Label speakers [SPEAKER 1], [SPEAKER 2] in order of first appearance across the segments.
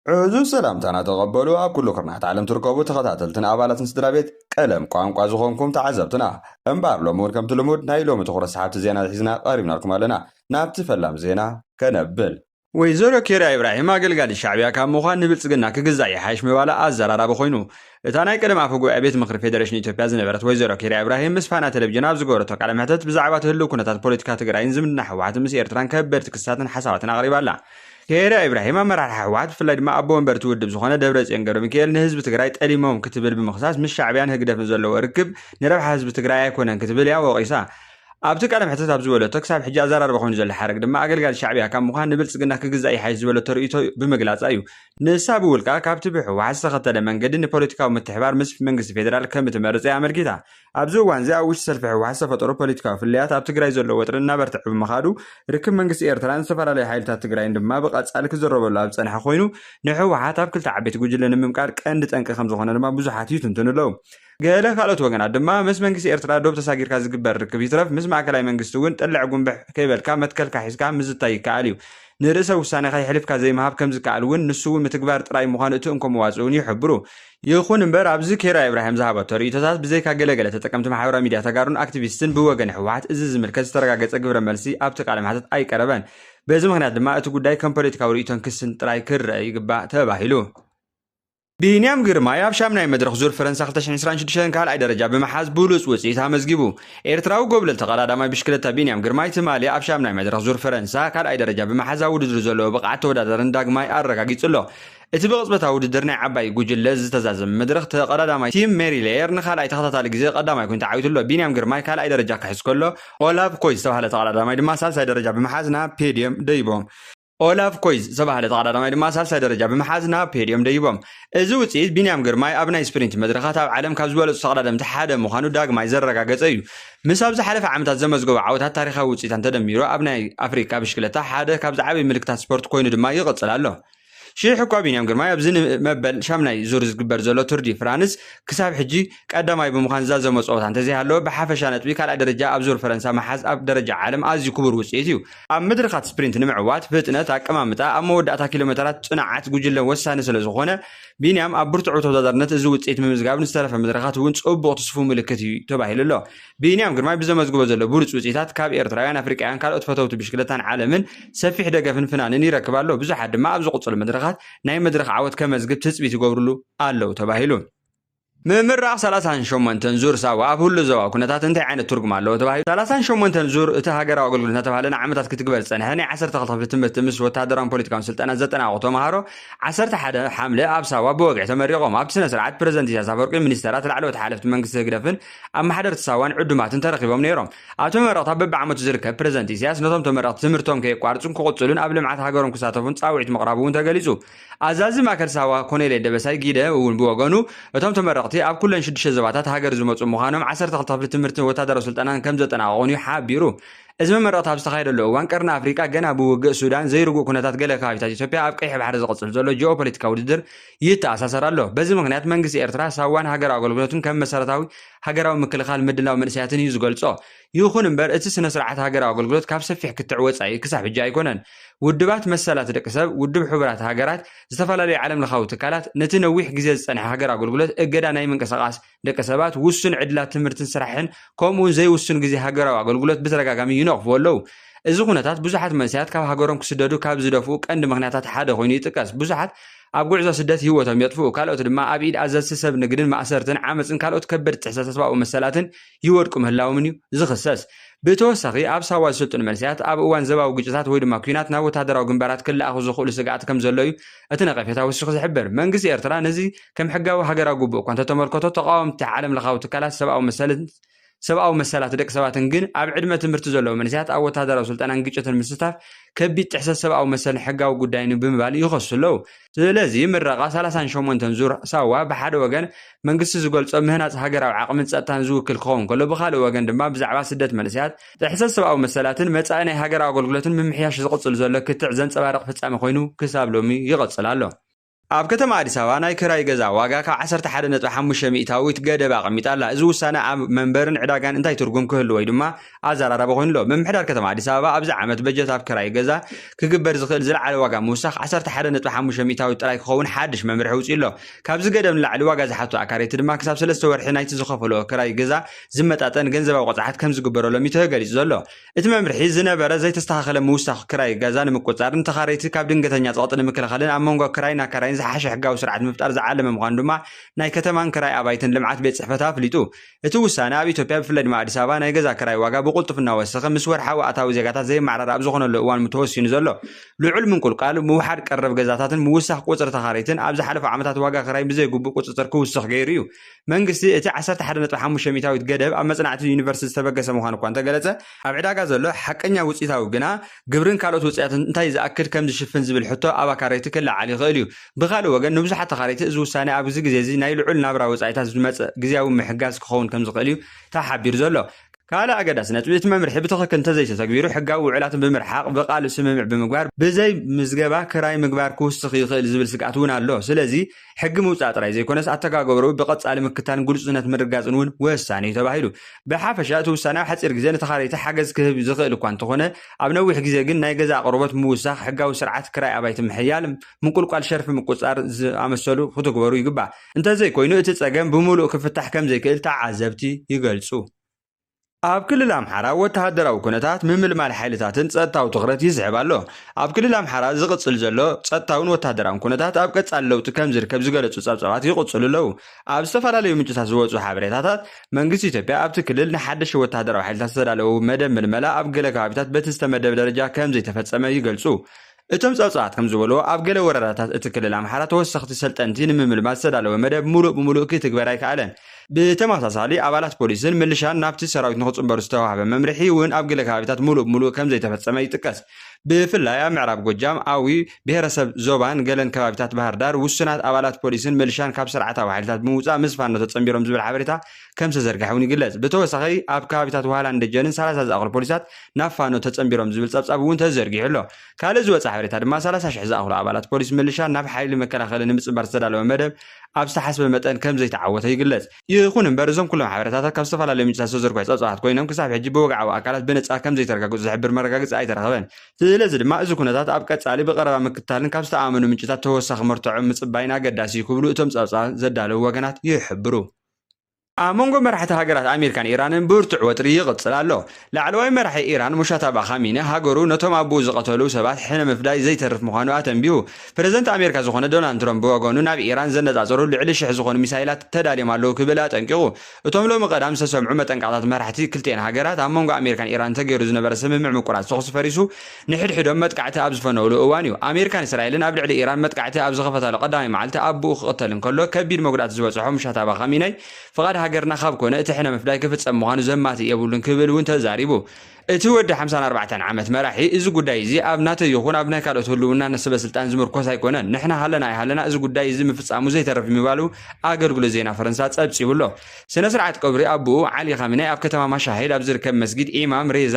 [SPEAKER 1] ዕዙዝ ሰላምታና ተቐበሉ ኣብ ኩሉ ኩርናዓት ዓለም ትርከቡ ተኸታተልትን ኣባላትን ስድራቤት ቀለም ቋንቋ ዝኾንኩም ተዓዘብትና። እምበኣር ሎሚ ውን ከምቲ ልሙድ ናይ ሎሚ ትኹረት ሰሓብቲ ዜና ሒዝና ቀሪብናልኩም ኣለና። ናብቲ ፈላም ዜና ከነብል። ወይዘሮ ኬርያ ኢብራሂም ኣገልጋሊት ሻዕቢያ ካብ ምዃን ንብልፅግና ክግዛእ ይሓይሽ ምባላ ኣዘራራቢ ኮይኑ። እታ ናይ ቀደም ኣፈ ጉባኤ ቤት ምኽሪ ፌደሬሽን ኢትዮጵያ ዝነበረት ወይዘሮ ኬርያ ኢብራሂም ምስ ፋና ቴሌቪዥን ኣብ ዝገበረቶ ቃለ መሕተት ብዛዕባ እቲ ህልው ኩነታት ፖለቲካ ትግራይን ዝምድና ህወሓትን ምስ ኤርትራን ከበድቲ ክስታትን ሓሳባትን ኣቕሪባ ኣላ። ከይረ ኢብራሂም ኣመራርሓ ህወሓት ብፍላይ ድማ ኣቦ ወንበር እቲ ውድብ ዝኾነ ደብረፅዮን ገብረሚካኤል ንህዝቢ ትግራይ ጠሊሞም ክትብል ብምኽሳስ ምስ ሻዕቢያን ህግደፍን ዘለዎ ርክብ ንረብሓ ህዝቢ ትግራይ ኣይኮነን ክትብል እያ ወቒሳ። ኣብቲ ቃለ መሕተት ኣብ ዝበለቶ ክሳብ ሕጂ ኣዘራርባ ኮይኑ ዘሎ ሓረግ ድማ ኣገልጋሊ ሻዕቢያ ካብ ምዃን ንብልፅግና ክግዛእ ይሓይሽ ዝበለቶ ርእይቶ ብምግላፃ እዩ። ንሳ ብውልቃ ካብቲ ብህወሓት ዝተኸተለ መንገዲ ንፖለቲካዊ ምትሕብባር ምስ መንግስቲ ፌደራል ከምእትመርፅ እያ ኣመልኪታ። ኣብዚ እዋንዚ ኣብ ውሽጢ ሰልፊ ህወሓት ዝተፈጠሩ ፖለቲካዊ ፍልልያት ኣብ ትግራይ ዘሎ ወጥሪ እናበርትዐ ብምኻዱ ርክብ መንግስቲ ኤርትራን ዝተፈላለዩ ሓይልታት ትግራይን ድማ ብቐጻሊ ክዝረበሉ ኣብ ዝጸንሐ ኮይኑ ንህወሓት ኣብ ክልተ ዓበይቲ ጉጅለ ንምምቃል ቀንዲ ጠንቂ ከምዝኾነ ድማ ብዙሓት ይትንትኑ ኣለዉ። ገለ ካልኦት ወገናት ድማ ምስ መንግስቲ ኤርትራ ዶብ ተሳጊርካ ዝግበር ርክብ ይትረፍ ምስ ማእከላይ መንግስቲ እውን ጥልዕ ጉምብሕ ከይበልካ መትከልካ ሒዝካ ምዝታይ ይከኣል እዩ። ንርእሰ ውሳኔኻ የሕሊፍካ ዘይምሃብ ከምዝከኣል እውን ንሱ እውን ምትግባር ጥራይ ምዃኑ እቲ እንኮ መዋጽእ እውን ይሕብሩ። ይኹን እምበር ኣብዚ ኬራ ኢብራሂም ዝሃበቶ ርእይቶታት ብዘይካ ገለ ገለ ተጠቀምቲ ማሕበራዊ ሚድያ ተጋሩን ኣክቲቪስትን ብወገን ህወሓት እዚ ዝምልከት ዝተረጋገፀ ግብረ መልሲ ኣብቲ ቃለ መሕተት ኣይቀረበን። በዚ ምኽንያት ድማ እቲ ጉዳይ ከም ፖለቲካዊ ርእይቶን ክስን ጥራይ ክረኣ ይግባእ ተባሂሉ። ቢንያም ግርማይ ኣብ ሻምናይ መድረኽ ዙር ፈረንሳ 2026 ካልኣይ ደረጃ ብምሓዝ ብሉፅ ውፅኢት ኣመዝጊቡ። ኤርትራዊ ጎብለል ተቐዳዳማይ ብሽክለታ ቢንያም ግርማይ ትማሊ ኣብ ሻምናይ መድረኽ ዙር ፈረንሳ ካልኣይ ደረጃ ብምሓዝ ኣብ ውድድሩ ዘለዎ ብቕዓት ተወዳዳርን ዳግማይ ኣረጋጊፁ ኣሎ። እቲ ብቕጽበታዊ ውድድር ናይ ዓባይ ጉጅለ ዝተዛዘመ መድረኽ፣ ተቐዳዳማይ ቲም ሜሪ ሌየር ንካልኣይ ተኸታታሊ ግዜ ቀዳማይ ኮይኑ ተዓዊቱ ኣሎ። ቢንያም ግርማይ ካልኣይ ደረጃ ክሕዝ ከሎ፣ ኦላቭ ኮይዝ ዝተባህለ ተቐዳዳማይ ድማ ሳልሳይ ደረጃ ብምሓዝ ናብ ፔድዮም ደይቦም። ኦላቭ ኮይዝ ዝተባህለ ተቐዳዳማይ ድማ ሳልሳይ ደረጃ ብምሓዝ ናብ ፔድዮም ደይቦም። እዚ ውጽኢት፣ ቢንያም ግርማይ ኣብ ናይ ስፕሪንት መድረኻት ኣብ ዓለም ካብ ዝበለጹ ተቐዳደምቲ ሓደ ምዃኑ ዳግማይ ዘረጋገጸ እዩ። ምስ ኣብ ዝሓለፈ ዓመታት ዘመዝገቦ ዓወታት ታሪኻዊ ውጽኢታን ተደሚሩ፣ ኣብ ናይ ኣፍሪቃ ብሽክለታ ሓደ ካብ ዝዓበዩ ምልክታት ስፖርት ኮይኑ ድማ ይቕጽል ኣሎ። ሽሕ እኳ ቢንያም ግርማይ ኣብዚ ንመበል ሻምናይ ዙር ዝግበር ዘሎ ቱር ዲ ፍራንስ ክሳብ ሕጂ ቀዳማይ ብምዃን ዝዛዘሞ ጸወታ እንተዘይሃለወ ብሓፈሻ ነጥቢ ካልኣይ ደረጃ ኣብ ዙር ፈረንሳ ምሓዝ ኣብ ደረጃ ዓለም ኣዝዩ ክቡር ውጽኢት እዩ። ኣብ መድረኻት ስፕሪንት ንምዕዋት ፍጥነት፣ ኣቀማምጣ፣ ኣብ መወዳእታ ኪሎሜተራት ጽንዓት ጉጅለ ወሳኒ ስለዝኾነ ቢንያም ኣብ ብርቱዕ ተወዳዳርነት እዚ ውጽኢት ምምዝጋብ ንዝተረፈ መድረኻት እውን ጽቡቕ ትስፉው ምልክት እዩ ተባሂሉ ኣሎ። ብንያም ግርማይ ብዘመዝግቦ ዘሎ ብሉፅ ውፅኢታት ካብ ኤርትራውያን፣ ኣፍሪቃውያን ካልኦት ፈተውቲ ብሽክለታን ዓለምን ሰፊሕ ደገፍን ፍናንን ይረክብ ኣሎ። ብዙሓት ድማ ኣብ ዝቕፅሉ መድረኻት ናይ መድረኽ ዓወት ከመዝግብ ትፅቢት ይገብርሉ ኣለው ተባሂሉ። ምምራቕ ሰላሳን ሸሞንተን ዙር ሳዋ ኣብ ህሉ ዞባዊ ኩነታት እንታይ ዓይነት ትርጉም ኣለዎ ተባሂሉ። ሰላሳን ሸሞንተን ዙር እቲ ሃገራዊ ኣገልግሎት እናተባህለ ንዓመታት ክትግበር ዝፀንሐ ናይ ዓሰርተ ክልተ ክፍሊ ትምህርቲ ምስ ወተሃደራውን ፖለቲካውን ስልጠና ዘጠናቐቑ ተምሃሮ ዓሰርተ ሓደ ሓምለ ኣብ ሳዋ ብወግዒ ተመሪቖም። ኣብቲ ስነ ስርዓት ፕረዚደንት ኢሳያስ ኣፈወርቂ፣ ሚኒስተራት፣ ላዕለዎት ሓለፍቲ መንግስቲ ህግደፍን ኣመሓደርቲ ሳዋን ዕዱማትን ተረኺቦም ነይሮም። ኣብ ተመረቕታ በብዓመቱ ዝርከብ ፕረዚደንት ኢሳያስ ነቶም ተመረቕቲ ትምህርቶም ከየቋርጹን ክቕጽሉን ኣብ ልምዓት ሃገሮም ክሳተፉን ጻውዒት ምቕራቡ እውን ተገሊጹ። ኣዛዚ ማእከል ሳዋ ኮኔሌ ደበሳይ ጊደ እውን ብወገኑ እቶም ተመረቕቲ ኣብ ኩለን ሽዱሽተ ዞባታት ሃገር ዝመጹ ምዃኖም ዓሰርተ ክልተ ክፍሊ ትምህርትን ወታደራዊ ስልጠናን ከምዘጠናቐቑን እዩ ሓቢሩ። እዚ መመረቕታ ኣብ ዝተኻየደሉ እዋን ቀርኒ ኣፍሪቃ ገና ብውግእ ሱዳን ዘይርጉእ ኩነታት ገለ ከባቢታት ኢትዮጵያ ኣብ ቀይሕ ባሕሪ ዝቕጽል ዘሎ ጂኦፖለቲካዊ ውድድር ይተኣሳሰር ኣሎ። በዚ ምኽንያት መንግስቲ ኤርትራ ሳዋን ሃገራዊ ኣገልግሎትን ከም መሰረታዊ ሃገራዊ ምክልኻል ምድላው መንእሰያትን እዩ ዝገልጾ። ይኹን እምበር እቲ ስነ-ስርዓት ሃገራዊ ኣገልግሎት ካብ ሰፊሕ ክትዕ ወጻኢ ክሳብ ሕጂ ኣይኮነን። ውድባት መሰላት ደቂ ሰብ፣ ውድብ ሕቡራት ሃገራት፣ ዝተፈላለዩ ዓለምለኻዊ ትካላት ነቲ ነዊሕ ግዜ ዝጸንሐ ሃገራዊ ኣገልግሎት እገዳ ናይ ምንቅስቓስ ደቂ ሰባት ውሱን ዕድላት ትምህርትን ስራሕን ከምኡውን ዘይውሱን ግዜ ሃገራዊ ኣገልግሎት ብተደጋጋሚ ይነቕፍዎ ኣለዉ። እዚ ኩነታት ብዙሓት መንሰያት ካብ ሃገሮም ክስደዱ ካብ ዝደፍኡ ቀንዲ ምክንያታት ሓደ ኮይኑ ይጥቀስ። ብዙሓት ኣብ ጉዕዞ ስደት ህይወቶም የጥፍኡ፣ ካልኦት ድማ ኣብ ኢድ ኣዘዝቲ ሰብ ንግድን ማእሰርትን ዓመጽን ካልኦት ከበድቲ ጥሕሰት ሰብኣዊ መሰላትን ይወድቁ ምህላዎም እዩ ዝኽሰስ። ብተወሳኺ ኣብ ሳዋ ዝስልጥኑ መንሰያት ኣብ እዋን ዘባዊ ግጭታት ወይ ድማ ኲናት ናብ ወተሃደራዊ ግንባራት ክለኣኹ ዝኽእሉ ስግኣት ከምዘሎ እዩ እቲ ነቐፌታ ወሲኹ ዝሕብር፣ መንግስቲ ኤርትራ ነዚ ከም ሕጋዊ ሃገራዊ ግቡእ እኳ እንተተመልከቶ፣ ተቓወምቲ ዓለምለኻዊ ትካላት ሰብኣዊ መሰልን ሰብኣዊ መሰላት ደቂ ሰባትን ግን ኣብ ዕድመ ትምህርቲ ዘለዉ መንእሰያት ኣብ ወተሃደራዊ ስልጠናን ግጭትን ምስታፍ ከቢድ ጥሕሰት ሰብኣዊ መሰልን ሕጋዊ ጉዳይን እዩ ብምባል ይኸሱ ኣለዉ። ስለዚ ምረቓ ሰላሳን ሸሞንተን ዙር ሳዋ ብሓደ ወገን መንግስቲ ዝገልጾ ምህናጽ ሃገራዊ ዓቕምን ጸጥታን ዝውክል ክኸውን ከሎ ብኻልእ ወገን ድማ ብዛዕባ ስደት መንእሰያት፣ ጥሕሰት ሰብኣዊ መሰላትን መጻኢ ናይ ሃገራዊ ኣገልግሎትን ምምሕያሽ ዝቕጽል ዘሎ ክትዕ ዘንጸባርቕ ፍጻሜ ኮይኑ ክሳብ ሎሚ ይቕጽል ኣሎ። ኣብ
[SPEAKER 2] ከተማ ኣዲስ ኣበባ ናይ ክራይ ገዛ ዋጋ ካብ ዓሰርተ ሓደ ነጥቢ ሓሙሽተ ሚእታዊት ገደብ ኣቐሚጣ ኣላ። እዚ ውሳነ ኣብ መንበርን ዕዳጋን እንታይ ትርጉም ክህልዎ'ዩ ድማ ኣዘራራቢ ኮይኑ ኣሎ። ምምሕዳር ከተማ ኣዲስ ኣበባ ኣብዚ ዓመት በጀት ኣብ ክራይ ገዛ ክግበር ዝኽእል ዝለዓለ ዋጋ ምውሳኽ ዓሰርተ ሓደ ነጥቢ ሓሙሽተ ሚእታዊት ጥራይ ክኸውን ሓድሽ መምርሒ ኣውጺኡ'ሎ። ካብዚ ገደብ ንላዕሊ ዋጋ ዝሓቱ ኣካረይቲ ድማ ክሳብ ሰለስተ ወርሒ ናይቲ ዝኸፈልኦ ክራይ ገዛ ዝመጣጠን ገንዘባዊ ቅፅዓት ከምዝግበረሎም እዩ ተገሊፁ ዘሎ። እቲ መምርሒ ዝነበረ ዘይተስተኻኸለ ምውሳኽ ክራይ ገዛ ንምቁፅፃር፣ ንተኻረይቲ ካብ ድንገተኛ ፀቕጢ ንምክልኻልን ኣብ መንጎ ክራይን ኣካራይን ዝሓሸ ሕጋዊ ስርዓት ንምፍጣር ዝዓለመ ምዃኑ ድማ ናይ ከተማን ክራይ ኣባይትን ልምዓት ቤት ፅሕፈት ኣፍሊጡ። እቲ ውሳነ ኣብ ኢትዮጵያ ብፍላይ ድማ ኣዲስ ኣበባ ናይ ገዛ ክራይ ዋጋ ብቕልጡፍ እናወሰኸ ምስ ወርሓዊ ኣታዊ ዜጋታት ዘየመዓራረ ኣብ ዝኾነሉ እዋን ተወሲኑ ዘሎ ልዑል ምንቁልቋል ምውሓድ ቀረብ ገዛታትን ምውሳኽ ቁፅሪ ተኻረይትን ኣብ ዝሓለፉ ዓመታት ዋጋ ክራይ ብዘይግቡእ ቁፅፅር ክውስኽ ገይሩ እዩ። መንግስቲ እቲ ዓሰርተ ሓደ ነጥቢ ሓሙሽተ ሚእታዊት ገደብ ኣብ መጽናዕቲ ዩኒቨርሲቲ ዝተበገሰ ምዃኑ እኳ እንተገለጸ፣ ኣብ ዕዳጋ ዘሎ ሓቀኛ ውጽኢታዊ ግና ግብርን ካልኦት ውጽኢታትን እንታይ ዝኣክል ከም ዝሽፍን ዝብል ሕቶ ኣብ ኣካረይቲ ክለዓል ይኽእል እዩ። ብኻልእ ወገን ንብዙሓት ተኻረይቲ እዚ ውሳነ ኣብዚ ግዜ እዚ ናይ ልዑል ናብራ ወጻኢታት ዝመጽእ ግዝያዊ ምሕጋዝ ክኸውን ከም ዝኽእል እዩ ተሓቢሩ ዘሎ። ካልእ ኣገዳሲ ነጥቢ፣ እቲ መምርሒ ብትኽክል እንተዘይተተግቢሩ ሕጋዊ ውዕላት ብምርሓቕ፣ ብቃል ስምምዕ ብምግባር፣ ብዘይ ምዝገባ ክራይ ምግባር ክውስኽ ይኽእል ዝብል ስግኣት እውን ኣሎ። ስለዚ፣ ሕጊ ምውፃእ ጥራይ ዘይኮነስ ኣተጋገብርኡ ብቐፃሊ ምክታልን ግሉፅነት ምርግጋፅን እውን ወሳኒ እዩ ተባሂሉ። ብሓፈሻ እቲ ውሳነ ኣብ ሓፂር ግዜ ንተኻረይቲ ሓገዝ ክህብ ዝኽእል እኳ እንተኾነ ኣብ ነዊሕ ግዜ ግን ናይ ገዛ ኣቕርቦት ምውሳኽ፣ ሕጋዊ ስርዓት ክራይ ኣባይቲ ምሕያል፣ ምቁልቋል ሸርፊ ምቁፅፃር ዝኣመሰሉ ክትግበሩ ይግባእ። እንተዘይኮይኑ እቲ ፀገም ብምሉእ ክፍታሕ ከምዘይክእል ተዓዘብቲ ይገልፁ። ኣብ ክልል ኣምሓራ ወተሃደራዊ ኩነታት ምምልማል ሓይልታትን ጸጥታዊ ትኹረት ይስሕብ ኣሎ። ኣብ ክልል ኣምሓራ ዝቕጽል ዘሎ ጸጥታውን ወተሃደራውን ኩነታት ኣብ ቀጻሊ ለውጢ ከም ዝርከብ ዝገለጹ ጸብጻባት ይቕጽሉ ኣለዉ። ኣብ ዝተፈላለዩ ምንጭታት ዝወጹ ሓበሬታታት፣ መንግስቲ ኢትዮጵያ ኣብቲ ክልል ንሓደሽቲ ወተሃደራዊ ሓይልታት ዝተዳለዉ መደብ ምልመላ ኣብ ገለ ከባቢታት በቲ ዝተመደበ ደረጃ ከም ዘይተፈጸመ ይገልጹ። እቶም ጸብጻባት ከም ዝበልዎ፣ ኣብ ገለ ወረዳታት እቲ ክልል ኣምሓራ ተወሰኽቲ ሰልጠንቲ ንምምልማል ዝተዳለወ መደብ ምሉእ ብምሉእ ኪትግበር ኣይከኣለን። ብተመሳሳሊ፣ ኣባላት ፖሊስን ምልሻን ናብቲ ሰራዊት ንኽጽንበሩ ዝተዋህበ መምርሒ እውን ኣብ ገለ ከባቢታት ምሉእ ብምሉእ ከም ዘይተፈጸመ ይጥቀስ። ብፍላይ ኣብ ምዕራብ ጎጃም፣ ኣዊ፣ ብሄረሰብ ዞባን ገለን ከባቢታት ባህርዳር፣ ውሱናት ኣባላት ፖሊስን ምልሻን ካብ ስርዓታዊ ሓይልታት ብምውጻእ ምስ ፋኖ ተጸንቢሮም ዝብል ሓበሬታ ከም ዝተዘርግሐ እውን ይግለጽ። ብተወሳኺ ኣብ ከባቢታት ዋህላን ደጀንን ሰላሳ ዝኣኽሉ ፖሊሳት ናብ ፋኖ ተጸንቢሮም ዝብል ጸብጻብ እውን ተዘርጊሑ ኣሎ። ካልእ ዝወጸ ሓበሬታ ድማ ሰላሳ ሽሕ ዝኣኽሉ ኣባላት ፖሊስ ምልሻ ናብ ሓይሊ መከላኸሊ ንምጽንባር ዝተዳለወ መደብ ኣብ ዝተሓስበ መጠን ከም ዘይተዓወተ ይግለጽ። ይኹን እምበር እዞም ኩሎም ሓበሬታታት ካብ ዝተፈላለዩ ምንጭታት ዝተዘርግሑ ጸብጻባት ኮይኖም ክሳብ ሕጂ ብወግዓዊ ኣካላት ብነጻር ከም ዘይተረጋገጹ ዝሕብር መረጋገጺ ኣይተረኽበን። ስለዚ ድማ እዚ ኩነታት ኣብ ቀጻሊ ብቐረባ ምክትታልን ካብ ዝተኣማመኑ ምንጭታት ተወሳኺ መርትዖ ምጽባይን ኣገዳሲ እዩ ክብሉ እቶም ጸብጻብ ዘዳለዉ ወገናት ይሕብሩ። ኣብ መንጎ መራሕቲ ሃገራት ኣሜሪካን ኢራንን ብርቱዕ ወጥሪ ይቕጽል ኣሎ። ላዕለዋይ መራሒ ኢራን ሙሻታባ ኻሚኒ ሃገሩ ነቶም ኣቡኡ ዝቐተሉ ሰባት ሕነ ምፍዳይ ዘይተርፍ ምዃኑ ኣተንቢሁ። ፕረዚደንት ኣሜሪካ ዝኾነ ዶናልድ ትራምፕ ብወገኑ ናብ ኢራን ዘነጻጸሩ ልዕሊ ሽሕ ዝኾኑ ሚሳይላት ተዳልዮም ኣለዉ ክብል ኣጠንቂቑ። እቶም ሎሚ ቀዳም ዝተሰምዑ መጠንቀቕታት መራሕቲ ክልቲኤን ሃገራት ኣብ መንጎ ኣሜሪካን ኢራንን ተገይሩ ዝነበረ ስምምዕ ምቁራጽ ተኹሲ ፈሪሱ ንሕድሕዶም መጥቃዕቲ ኣብ ዝፈነውሉ እዋን እዩ፣ ኣሜሪካን እስራኤልን ኣብ ልዕሊ ኢራን መጥቃዕቲ ኣብ ዝኸፈታሉ ቀዳማይ መዓልቲ ኣቡኡ ክቕተል እንከሎ፣ ከቢድ መጉዳእቲ ዝበጽሖ ሙሻታባ ኻሚነይ፣ ፍቓድ ሃገርና ካብ ኮነ እቲ ሕነ ምፍዳይ ክፍጸም ምዃኑ ዘማትእ የብሉን ክብል እውን ተዛሪቡ። እቲ ወዲ ሓምሳን ኣርባዕተን ዓመት መራሒ፣ እዚ ጉዳይ እዚ ኣብ ናተይ ይኹን ኣብ ናይ ካልኦት ህልውና ሰበስልጣን ዝምርኮስ ኣይኮነን፣ ንሕና ሃለና ኣይሃለና እዚ ጉዳይ እዚ ምፍጻሙ ዘይተርፍ ምባሉ ኣገልግሎት ዜና ፈረንሳ ጸብጺቡ ኣሎ። ስነ-ስርዓት ቀብሪ ኣቡኡ ዓሊ ኻሚነይ ኣብ ከተማ ማሻሄድ ኣብ ዝርከብ መስጊድ ኢማም ሬዛ፣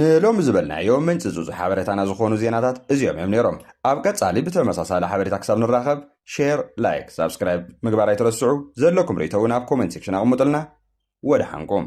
[SPEAKER 1] ንሎሚ ዝበልናዮ ምንጪ ጽጹ ሓበሬታና ዝኾኑ ዜናታት እዚኦም እዮም ነይሮም። ኣብ ቀጻሊ ብተመሳሳሊ ሓበሬታ ክሳብ ንራኸብ ሼር፣ ላይክ፣ ሳብስክራይብ ምግባር ኣይትረስዑ። ዘለኩም ርእይቶ እውን ኣብ ኮመንት ሴክሽን ኣቕምጡልና። ወደሓንኩም።